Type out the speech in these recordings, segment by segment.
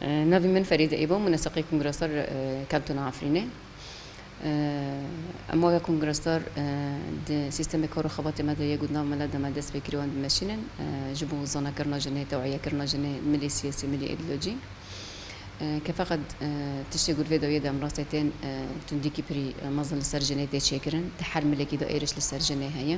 Navê min Ferîde Îbo, min li Seqê Kongresdar kevtine Efrînê. Em weke Kongresdar di sîstemê kar û xebatê me de ye ku di nav me de me dest pê kiriye wan dimeşînin ji bo zanakirina jinê, teweyekirina jinê, milî siyasî, milî îdeolojî. Ke feqet tiştê ku di vê dawiyê de em rastê tên, tundîkî pirî mezin li ser jinê tê çêkirin. Di her milekî de êriş li ser jinê heye.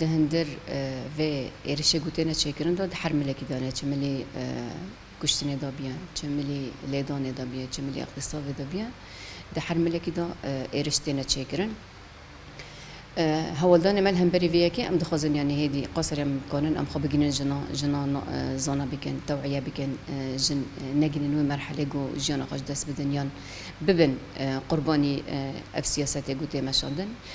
Di hundir vê êrişê ku têne çêkirin de di her milekî de ne, çi milî kuştinê de biye, çi milî lêdanê de biye, çi milî ixtîsavê de biye, di her milekî de êriş têne çêkirin. Hewaldanê me li hemberî vê yekê em dixwazin yanî hêdî qasir em bikarin em xwe bigihînin jina, jina zana bikin, tewîye bikin, jin negihînin wê merhelê ku jiyana xwe ji dest bidin yan bibin qurbanî ev siyasetê ku tê meşandin.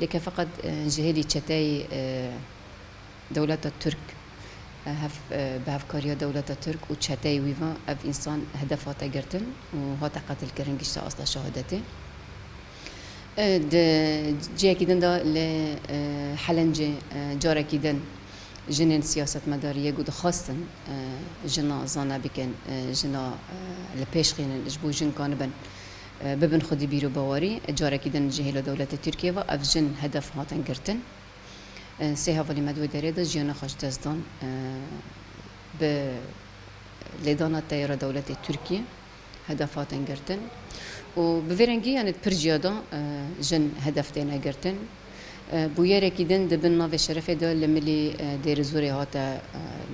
Lê ke feqet ji hêlî çeteyê dewleta Tirk hev bi hevkariya dewleta Tirk û çeteyê wî ve ev însan hedef hate girtin û hate qetilkirin gişte asta şehadetê. Di cihekî din de li Helencê carekî din jinên siyasetmedarî yê ku dixwastin jina zana bikin, jina li pêş xînin ji bo jin ka nibin, Bibin xwedî bîrobawerî, carekî din ji hêla dewleta Tirkiyeyê ve ev jin hedef hatin girtin. Sê hevalî me di wê derê de jiyana xwe ji dest dan bi lêdana teyara dewletê Tirkiyê hedef hatin girtin û bi vê rengî yanê di pir ciyada jin hedef têne girtin. Bûyerekî din di bin navê Şerefê de li Milî Dêrizorê hate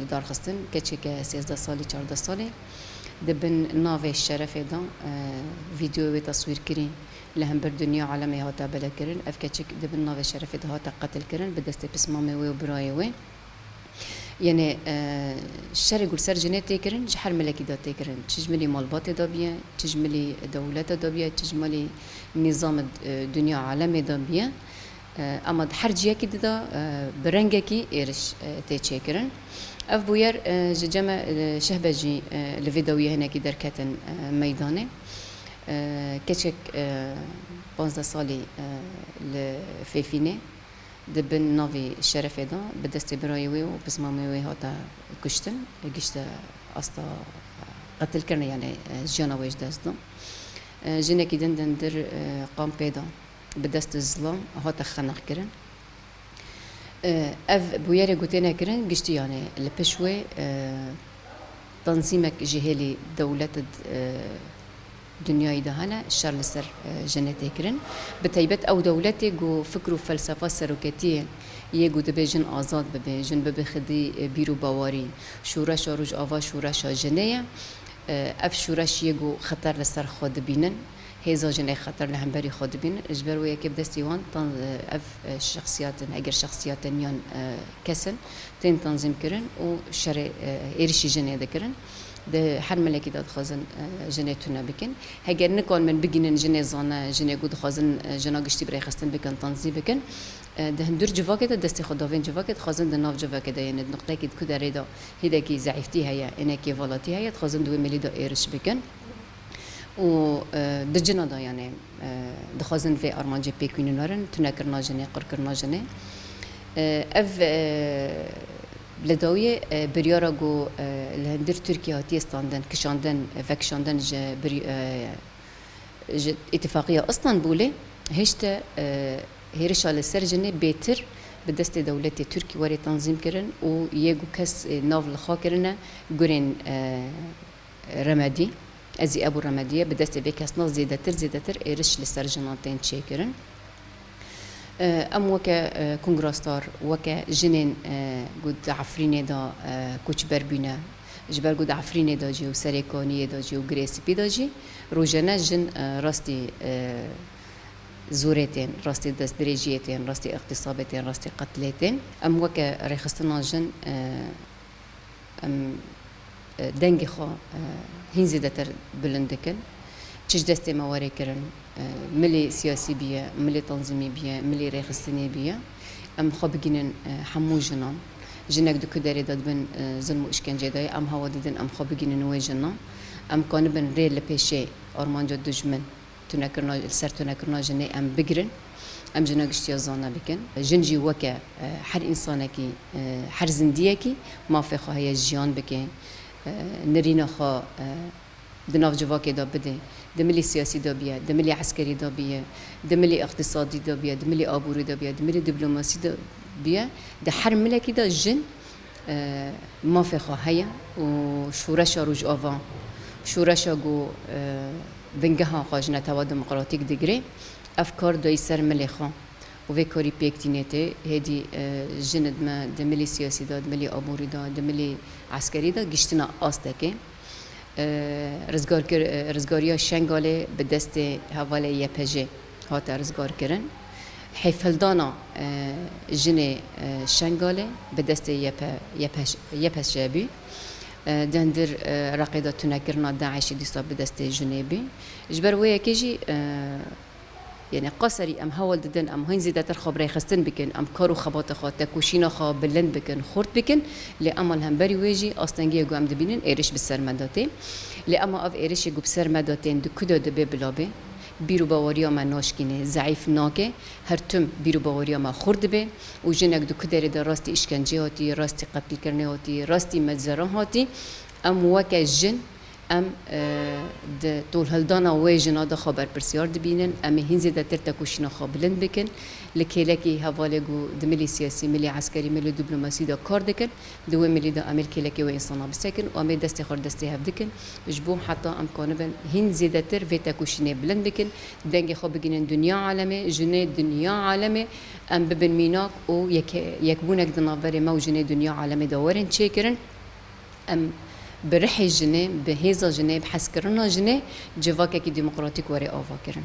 lidarxistin, keçeke sêzdeh salî çardeh salî di bin navê Şerefê de vîdeoyê wê taswîrkirî li hember dinya alemê hate beledkirin. Ev keçik di bin navê Şerefê de hate qetilkirin bi destê pismamê wê û birayê wê. Yenê şerê gul ser jinê tê kirin ji her milekî de tê kirin. Çi ji milî malbatê de biye, çi ji milî dewlete de biye, çi ji milî nîzama dinya alemê de biye. Ema di her ciyekî di de bi rengekî êriş tê çêkirin. Ev bûyer ji ceme Şehbejî li vê dawiyê hinekî derketin meydanê. Keçek panzdeh salî li Fêfînê. di bin navê şerefê de bi destê birayê wê û pismamê wê hate kuştin, gişte asta qetilkirina yanê jiyana wê ji dest da. Jinekî din dindir kampê de bi destê zilam hate xenaxkirin. Ev bûyerê ku têne kirin giştî yanê li piş wê tenzîmek ji hêlî dewlet Dinyayê de hene şer li ser jinê tê kirin, bi taybet ew dewletê ku fikr û felsefa seroketiyê yê ku dibê jin azad bibe, jin bibe xwedî bîr û bawarî. Şoreşa Rojava şoreşa jinê ye. Ev şoreş yê ku xeter li ser xwe dibînin, hêza jinê xeter li hemberî xwe dibînin. Ji ber wê yekê bi destê wan tan ev şexsiyatin, eger şexsiyatên yan kes in, tên tanzîmkirin û şerê êrişî jinê dikirin. Di her milekî de dixwazin jinê tune bikin. Heger nikan min bigînin jinê zane, jinê ku dixwazin jina giştî bi rêxistin bikin, tanzî bikin. Di hundir civakê de destê xwe da vên civakê dixwazin di nav civakê de yên di nuqteyekî di ku derê de hêdekî zeîftî heye, êne kêvalatî heye dixwazin di wê milî de êriş bikin û di cina de yanê dixwazin vê armancê pêk wînin werin, tunekirina jinê, qurkirina jinê. Ev. Li dawiyê biryara ku li hundir Tirkiye hatiye standin kişandin vekişandin ji ji Îtîfaqiya Istanbûlê hişte hêrişa li ser jinê bêtir bi destê dewletê Tirk were tanzîm kirin û yê ku kes nav li xwe kirine gurên remedî ezî ev û remediye bi destê vê kesna zêdetir zêdetir êriş li ser jinan tên çêkirin. Em weke kongrasdar, weke jinên ku di Efrînê de koçber bûne, ji ber ku di Efrînê de jî û Serê Kaniyê de jî û Girê Spî de jî rojane jin rastî zorê tên, rastî destdirêjiyê tên, rastî îqtîsabê tên, rastî qetilê tên. Em weke rêxistina jin em dengê xwe hîn zêdetir bilind dikin. Çi ji destê me were kirin, milê siyasî biye, milê tenzîmî biye, milê rêxistinê biye, em xwe bigihînin hemû jinan. Jinek di ku derê de dibin zilm û îşkencê de ye, em hewa didin em xwe bigihînin wê jina. Em kanibin rê li pêşê armanca dijmin. Tunekirina li ser tunekirina jinê em bigirin, em jina giştiya zana bikin. Jin jî weke her însanekî, her zindiyekî mafê xwe heye jiyan bike, nirîna xwe di nav civakê de bide. Di milî siyasî de biye, di milî eskerî de biye, di milî îqtîsadî de biye, di milî aborî de biye, di milî dîplomasî de biye, di her milekî de jin, Mafê xwe heye û şoreşa Rojava, şoreşa ku bingeha xwe ji Netewa Demokratîk digire, ev kar dayî ser milê xwe û vê karî pêk tî nêtê. Hêdî jin dime di milê siyasî de, di milê aborî de, di milê eskerî de giştina astekê. Rizgarkir, rizgariya Şengalê bi destê hevalê YPJ'ê Hate rizgarkirin hêfhildana jinê Şengalê bi destê YPŞ bû. Dendir Reqê de tunekirina DAIŞ'ê dîsa bi destê jinê bû. Ji ber wê yekê jî yanî ka serî em hewl didin em hîn zêdetir xwe birêxistin bikin, em kar û xebata xwe, tekoşîna xwe bilind bikin, xurt bikin lê ema li hemberî wê jî astengiyê ku em dibînin êriş bi ser me de tê. Lê ema ev êrişê ku bi ser me de tên di ku de dibe bila bê? Bîrûbaweriya me naşkîne, zeîf nake, her tim bîrûbaweriya me xurt dibe û jinek di ku derê de rastî îşkencê hatî, rastî qetlîkirinê hatî, rastî meczeran hatî, em weke jin em di tolhildana wê jina de xwe berpirsyar dibînin, em ê hîn zêdetir tekoşîna xwe bilind bikin. Li kêlekî hevalê ku di milî siyasî, milî eskerî, milî dîplomasî de kar dikin, Di wê milî de Amêr kêlekê wê însanan bisekin û em ê destê xwe li destê hev dikin ji bo heta em kanibin hîn zêdetir vê têkoşînê bilind bikin, dengê xwe bigihînin dinya alemê, jinê dinya alemê em bibin mînak û yekbûnek di navberê me û jinê dinya alemê de werin çêkirin. Em bi rihê jinê, bi hêza jinê, bi hezkirina jinê civakekî demokratîk were avakirin.